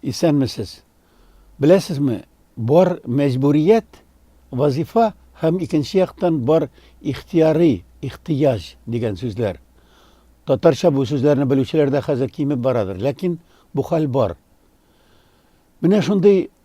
Исәнмесез. Беләсезме, бар мәҗбүрият, вазифа һәм икенче яктан бар ихтияри, ихтыяҗ дигән сүзләр. Татарча бу сүзләрне белүчеләр дә хәзер кимеп барадыр, ләкин бу хәл бар. Менә шундый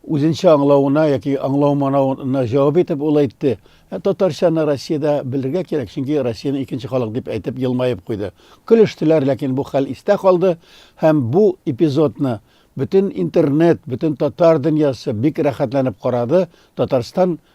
Үзенчә аңлавына яки аңлау-манауына җавап итеп ул әйтте, Ә татарчаны Россиядә белергә кирәк, чөнки Россиянең икенче халык, дип әйтеп елмаеп куйды. Көлештеләр, ләкин бу хәл истә калды һәм бу эпизодны бөтен интернет, бөтен татар дөньясы бик рәхәтләнеп карады, Татарстан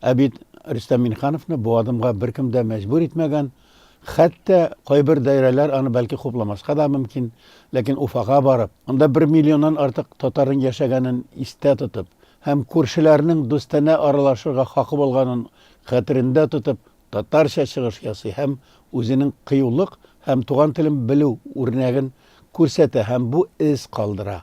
Ә бит Рөстәм Минхановны бу адымга беркем дә мәҗбүр итмәгән, хәтта кайбер даирәләр аны бәлки хупламаска да мөмкин, ләкин Уфага барып, анда бер миллионнан артык татарның яшәгәнен истә тотып һәм күршеләрнең дустанә аралашырга хакы булганын хәтерендә тотып, татарча чыгыш ясый һәм үзенең кыюлык һәм туган телен белү үрнәген күрсәтә һәм бу эз калдыра.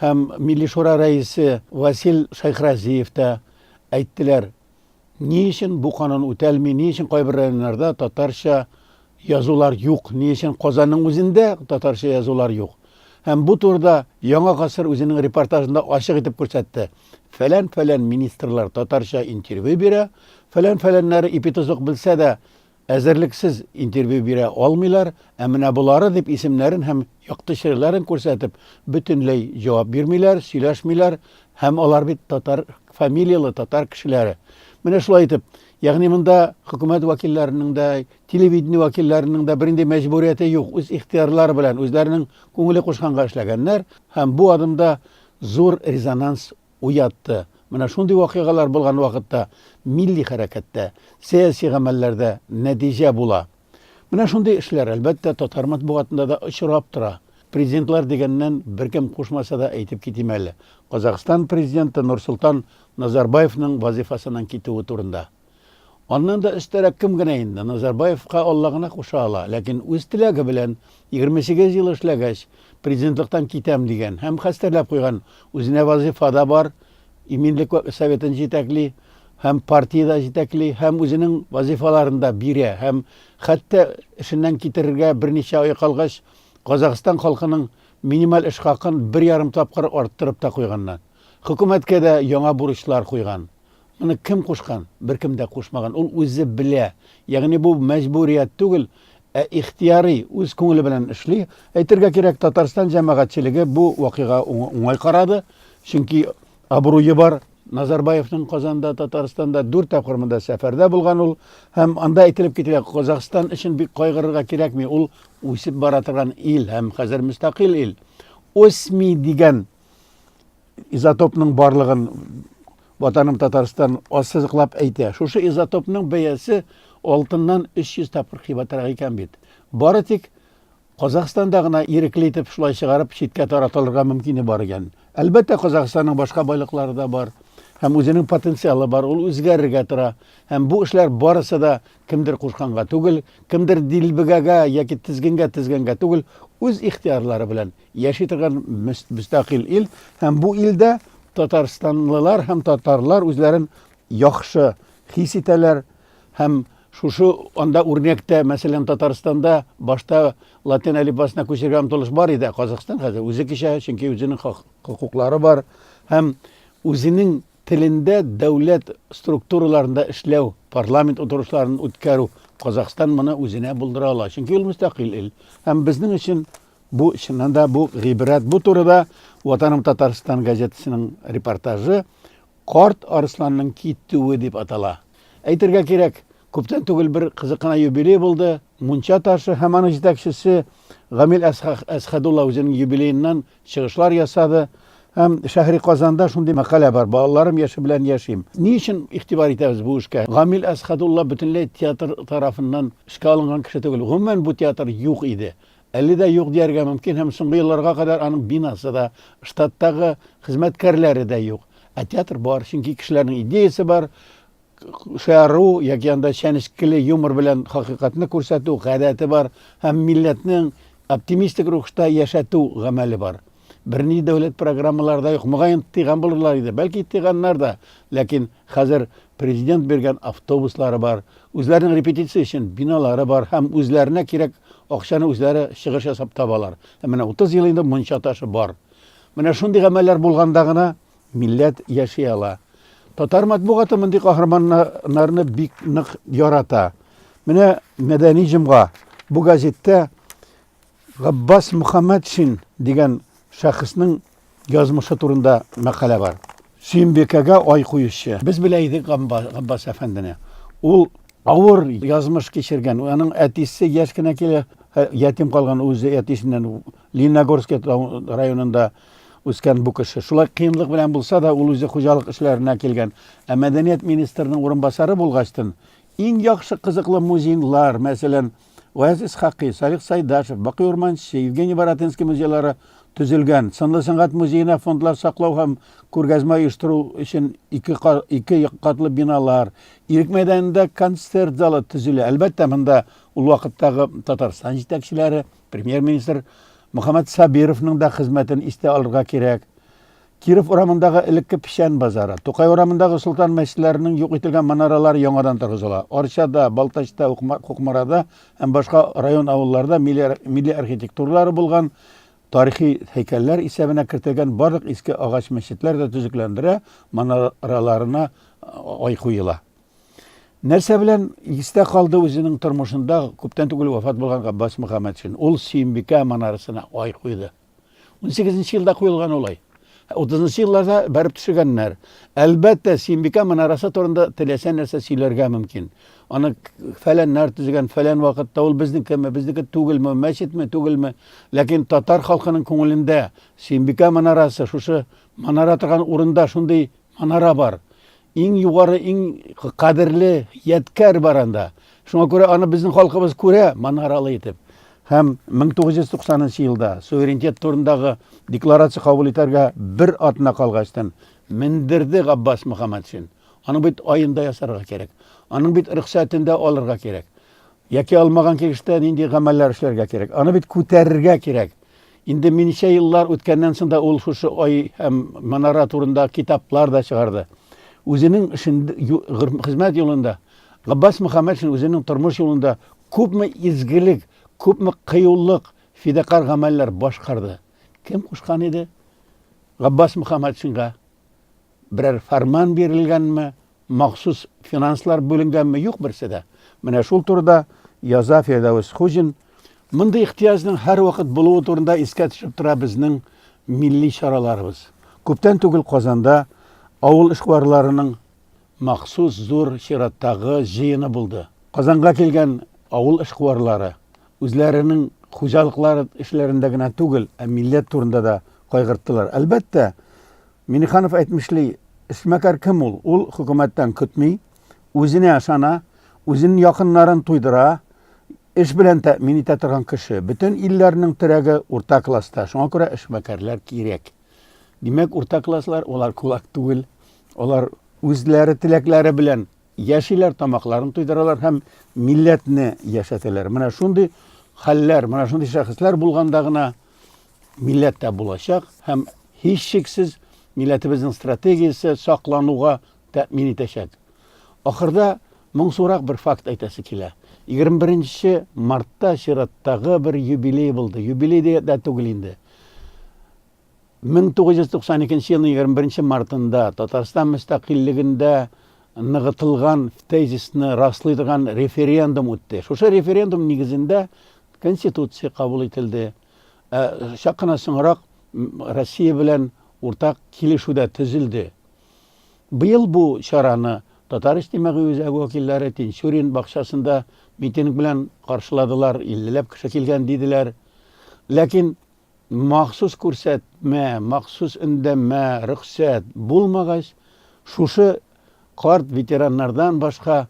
Һәм Милли Шура рәисе Васил Шәйхразиев та әйттеләр, ни өчен бу канун үтәлми, ни өчен кайбер районнарда татарча язулар юк, ни өчен Казанның үзендә татарча язулар юк. Һәм бу турыда Яңа гасыр үзенең репортажында ачык итеп күрсәтте, фәлән-фәлән министрлар татарча интервью бирә, фәлән-фәләннәре ипи-тозык белсә дә, Әзерлексез интервью бирә алмыйлар, ә менә болары дип исемнәрен һәм якты чирләрен күрсәтеп, бөтенләй җавап бирмиләр, сөйләшмиләр, һәм алар бит татар фамилияле, татар кешеләре. Менә шулай итеп, ягъни монда хөкүмәт вәкилләренең дә, телевидение вәкилләренең дә бернинди мәҗбүрияте юк, үз ихтыярлары белән, үзләренең күңеле кушканга эшләгәннәр, һәм бу адымда зур резонанс уятты. Менә шундый вакыйгалар булган вакытта милли хәрәкәттә, сәяси гамәлләрдә нәтиҗә була. Менә шундый эшләр, әлбәттә, татар матбугатында да очрап тора. Президентлар дигәннән, беркем кушмаса да әйтеп китим әле, Казахстан президенты Нурсолтан Назарбаевның вазыйфасыннан китүе турында. Аннан да өстәрәк кем генә инде, Назарбаевка Алла гына куша ала. Ләкин үз теләге белән, 28 ел эшләгәч, президентлыктан китәм дигән һәм хәстәрләп куйган, үзенә вазыйфа да бар, иминлек советын җитәкли һәм партия дә җитәкли һәм үзенең вазыйфаларын да бирә һәм хәтта эшеннән китерергә берничә ай калгач, Казахстан халкының минималь эш хакын бер ярым тапкыр арттырып та куйганнар. Хөкүмәткә дә яңа бурычлар куйган. Моны кем кушкан? Беркем дә кушмаган. Ул үзе белә. Ягъни бу мәҗбүрият түгел, ә ихтияри, үз күңеле белән эшли. Әйтергә кирәк, Татарстан җәмәгатьчелеге бу вакыйга уңай карады, чөнки абруе бар Назарбаевның Казанда, Татарстанда дүрт тапкыр монда сәфәрдә булган ул. Һәм анда әйтелеп кителә, Казахстан өчен бик кайгырырга кирәкми, ул үсеп бара торган ил һәм хәзер мөстәкыйль ил. Осми дигән изотопның барлыгын Ватаным Татарстан ассызыклап әйтә. Шушы изотопның бәясе алтыннан 300 тапкыр кыйбатрак икән бит. Бары тик Казахстанда гына ирекле итеп шулай чыгарып читкә таратылырга мөмкине бар икән. Әлбәттә, Казахстанның башка байлыклары да бар һәм үзенең потенциалы бар, ул үзгәрергә тора. Һәм бу эшләр барысы да Кемдер кушканга түгел, кемдер дилбегәгә яки тезгенгә тезгәнгә түгел, үз ихтыярлары белән яши торган мөстәкыйль ил һәм бу илдә татарстанлылар һәм татарлар үзләрен яхшы хис итәләр һәм шушы анда үрнәктә, мәсәлән, Татарстанда башта латин әлифбасына күчергә омтылыш бар иде, ә Казахстан хәзер үзе кичә, чөнки үзенең хокуклары бар һәм үзенең Телендә дәүләт структураларында эшләү, парламент утырышларын үткәрү, Казахстан моны үзенә булдыра ала, чөнки ул мөстәкыйль ил. Һәм безнең өчен бу, чыннан да, бу гыйбрәт. Бу турыда Ватаным Татарстан газетасының репортажы Карт арысланның китүе дип атала. Әйтергә кирәк, күптән түгел бер кызык кына юбилей булды, Мунча ташы һәм аның җитәкчесе Гамил Әсхәдулла үзенең юбилееннан Чыгышлар ясады. Һәм Шәһри Казанда шундый мәкалә бар, Балаларым яше белән яшим. Ни өчен игътибар итәбез бу эшкә? Гамил Әсхәдулла бөтенләй театр тарафыннан эшкә алынган кеше түгел. Гомумән бу театр юк иде. Әле дә юк дияргә мөмкин һәм соңгы елларга кадәр аның бинасы да, штаттагы хезмәткәрләре дә юк. Ә театр бар, чөнки кешеләрнең идеясе бар. шаяру яки анда чәнечкеле юмор белән хакыйкатьне күрсәтү гадәте бар һәм милләтнең оптимистик рухта яшәтү гамәле бар. Берни дәүләт программалары да юк. Мөгаен, тыйган булырлар иде. Бәлки тыйганнар да. Ләкин хәзер президент биргән автобуслары бар, үзләренең репетиция өчен биналары бар һәм үзләренә кирәк акчаны үзләре чыгыш ясап табалар. Ә менә 30 ел инде мунча ташы бар. Менә шундый гамәлләр булганда гына Милләт яши ала. Татар матбугаты мондый каһарманнарны бик нык ярата. Менә Мәдәни җомга бу газеттә Габбас Мөхәммәтшин дигән шәхеснең язмышы турында мәкалә бар. Сөембикәгә ай куючы. Без белә идек Габбас әфәндене. Ул авыр язмыш кичергән. Аның әтисе яшь кенә килә, ятим калган үзе әтисеннән Лениногорск районында үскән бу кеше. Шулай кыенлык белән булса да, ул үзе хуҗалык эшләренә килгән. Ә мәдәният министрының урынбасары булгачтын, иң яхшы кызыклы музейлар, мәсәлән, Гаяз Исхакый, Салих Сайдашев, Бакый Урманче, Евгений Баратынский музейлары төзелгән. Сынлы сәнгать музеена фондлар саклау һәм күргәзмә оештыру өчен ике, ике катлы биналар, Ирек мәйданында концерт залы төзелә. Әлбәттә, монда ул вакыттагы Татарстан җитәкчеләре, Премьер-министр Мөхәммәт Сабировның да хезмәтен истә алырга кирәк. Киров урамындагы элекке печән базары, Тукай урамындагы солтан мәчетләренең юк ителгән манаралары яңадан торгызыла. Арчада, Балтачта, Кукмарада һәм башка район авылларда милли архитектуралары булган тарихи һәйкәлләр исәбенә кертелгән барлык иске агач мәчетләр дә төзекләндерә, манараларына ай куела. Нәрсә белән истә калды үзенең тормышында күптән түгел вафат булган Габбас Мөхәммәтшин. Ул Сөембикә манарасына ай куйды. 18 елда куелган ул ай. 30 елларда бәреп төшергәннәр. Әлбәттә, Сөембикә манарасы турында теләсә нәрсә сөйләргә мөмкин. Аны фәләннәр төзегән, фәлән вакытта ул безнекеме, безнеке түгелме, мәчетме, түгелме? Ләкин татар халкының күңелендә Сөембикә манарасы шушы манара торган урында шундый манара бар. Иң югары, иң кадерле ядкәр бар анда. Шуңа күрә аны безнең халкыбыз күрә манаралы итеп. Һәм 1990 елда суверенитет турындагы декларация кабул итәргә бер атна калгачтан мендерде Габбас Мөхәммәтшин. Аның бит аенда ясарга кирәк. Аның бит рөхсәтендә алырга кирәк. Яки алмаган килештә нинди гамәлләр эшләргә кирәк? Аны бит күтәрергә кирәк. Инде минчә еллар үткәннән соң да ул шушы ай һәм манара турында китаплар да чыгарды. Үзенең эшендә, хезмәт юлында Габбас Мөхәммәтшин үзенең тормыш юлында күпме изгелек, күпме кыюлык, фидакарь гамәлләр башкарды. Кем кушкан иде Габбас Мөхәммәтшинга Берәр фәрман бирелгәнме, махсус финанслар бүленгәнме, юк берсе дә. Менә шул турыда яза Фирдәвес Хуҗин. Мондый ихтыяҗның һәрвакыт булуы турында искә төшеп тора безнең милли чараларыбыз. Күптән түгел Казанда авыл эшкуарларының махсус зур чираттагы җыены булды. Казанга килгән авыл эшкуарлары Үзләренең хуҗалыклары эшләрендә генә түгел, ә милләт турында да кайгырттылар. Әлбәттә, Миниханов әйтмешли, эшмәкәр кем ул? Ул хөкүмәттән көтми, үзенә ышана, үзенең якыннарын туйдыра, эш белән тәэмин итә торган кеше. Бөтен илләрнең терәге урта класста, шуңа күрә эшмәкәрләр кирәк. Димәк, урта класслар, алар кулак түгел, алар үзләре теләкләре белән яшиләр, тамакларын туйдыралар һәм милләтне яшәтәләр. Менә шундый хәлләр, менә шундый шәхесләр булганда гына милләт тә булачак һәм һичшиксез милләтебезнең стратегиясе саклануга тәэмин итәчәк. Ахырда моңсурак бер факт әйтәсе килә. 21 мартта чираттагы бер юбилей булды. Юбилей дә түгел инде. 1992 нче елның 21 нче мартында Татарстан мөстәкыйльлегендә ныгытылган тезисны раслый торган референдум үтте. Шушы референдум нигезендә Конституция кабул ителде. Ә чак кына соңрак Россия белән уртак килешү дә төзелде. Быел бу чараны Татар иҗтимагый үзәге вәкилләре Тинчурин бакчасында митинг белән каршыладылар, 50 ләп кеше килгән диделәр. Ләкин Махсус күрсәтмә, махсус өндәмә, рөхсәт, булмагач, шушы карт ветераннардан башка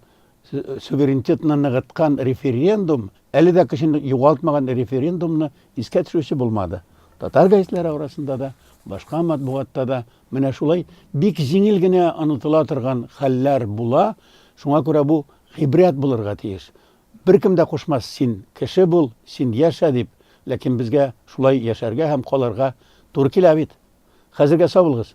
суверенитетны ныгыткан референдум, әле дә көчен югалтмаган референдумны искә төшерүче булмады. Татар гәзитләре арасында да, башка матбугатта да менә шулай бик җиңел генә онытыла торган хәлләр була, шуңа күрә бу гыйбрәт булырга тиеш. Беркем дә кушмас, син кеше бул, син яшә, дип, ләкин безгә шулай яшәргә һәм калырга туры килә бит. Хәзергә сау булыгыз!